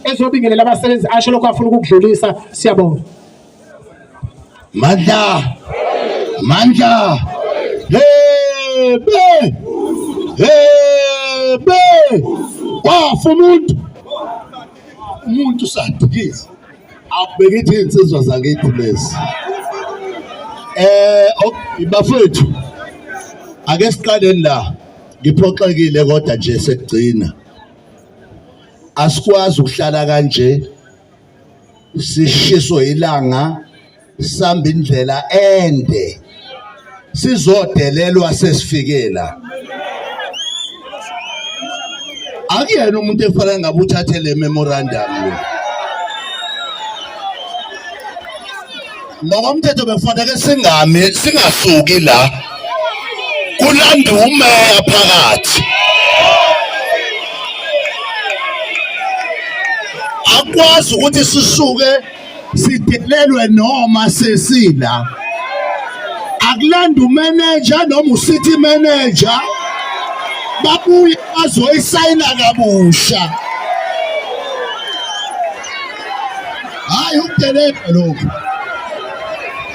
ezobingelela abasebenzi asho lokho afuna ukukudlulisa siyabonga mandla mandla hebe hebe wafa umuntu umuntu sadikisa akubekithi insizwa zakithi lezi eh bafethu ake siqaleni la ngiphoxekile kodwa nje sekugcina asikwazi ukuhlala kanje sishiso ilanga sihamba indlela ende sizodelelwa sesifikela akuyena umuntu efanele ngabe uthathe le memorandum lo ngokomthetho bekufanele singami singasuki la kulanda umeya phakathi akwazi ukuthi sisuke sidelelwe noma sesila akulanda umeneja noma ucity manager babuye bazoyisayina kabusha hayi ukudelela lokhu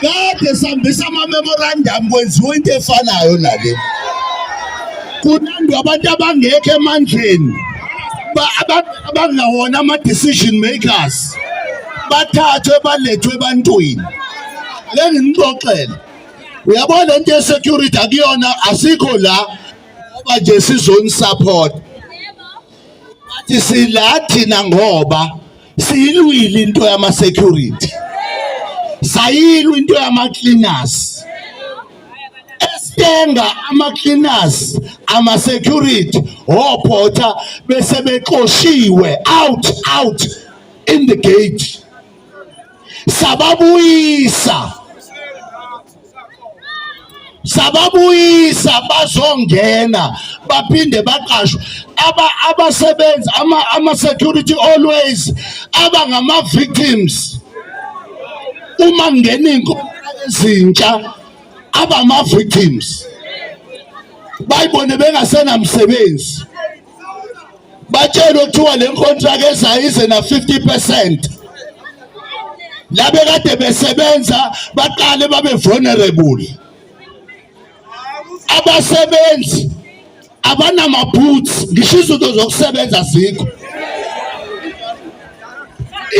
kade sihambisa ama-memorandum kwenziwa into efanayo nale kunandwa abantu abangekho emandleni abangawona ama-decision makers bathathwe balethwe ebantwini lenginixoxele uyabona le nto yesecurity akuyona asikho la ngoba nje sizonisupport wathi sila thina ngoba siyilwile into yama security sayilwa into yama cleaners estenga ama cleaners ama security ophotha bese bexoshiwe out out in the gate sababuyisa sababuyisa bazongena baphinde baqashwe aba abasebenzi ama, ama security always aba ngama victims uma ngena inkomo ezintsha aba ama victims bayibone bengasenamsebenzi batshelwe kuthiwa le contract ezayo ize na 50 percent labe kade besebenza baqale babe vulnerable abasebenzi abanamaboots ngisho izinto zokusebenza zikho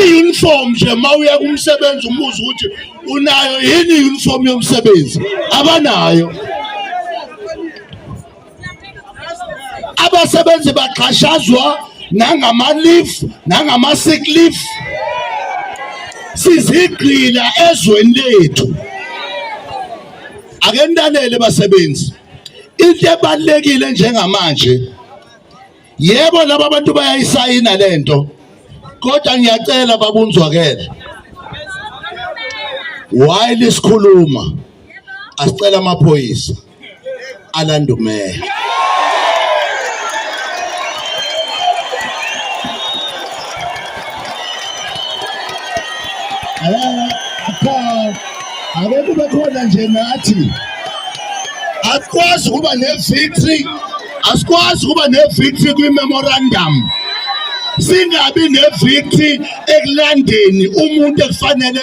i-uniform nje uma uya kumsebenzi umuzi ukuthi unayo yini i-uniform yomsebenzi abanayo abasebenzi baxhashazwa nangama-leave nangama-sick leave sizigqila ezweni lethu ake nilalele basebenzi into ebalekile njengamanje yebo laba bantu bayayisayina lento kodwa ngiyacela babunzwakele while isikhuluma asicela amaphoyisa Orlando Mayor. Ake kube khona nje nathi asikwazi ukuba ne-victory asikwazi ukuba ne-victory kwi-memorandum singabi ne-victory ekulandeni umuntu ekufanele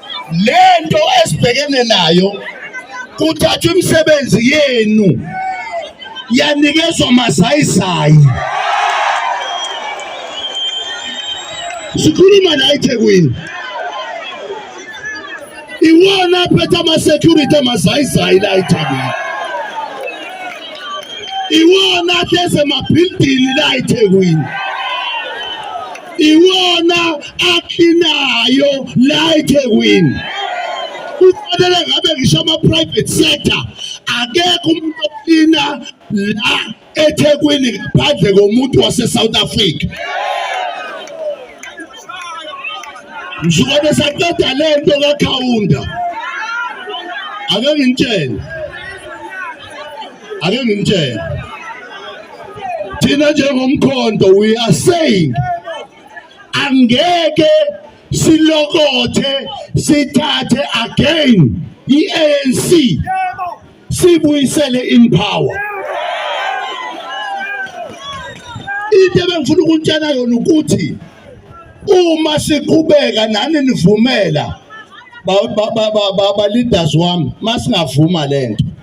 lento esibhekene nayo kuthathwa imisebenzi yenu yanikezwa mazayizayi sikhuluma la eThekwini iwona aphethe ama-security amazayizayi la eThekwini iwona ahleze emabhilidini la eThekwini iwona akhinayo la eThekwini kufanele ngabe ngisho ama-private sector akekho umuntu oklina la ethekwini ngaphandle komuntu wase-south africa nsuka besaqeda le nto kakhawunda ake ngintshele ake ngimtshele thina njengomkhondo we are saying angeke silokothe sithathe again i-ANC sibuyisele in power into ebengifuna ukutshela yona ukuthi uma siqhubeka nani nivumela ba, ba, ba, ba, ba, ba leaders wami masingavuma lento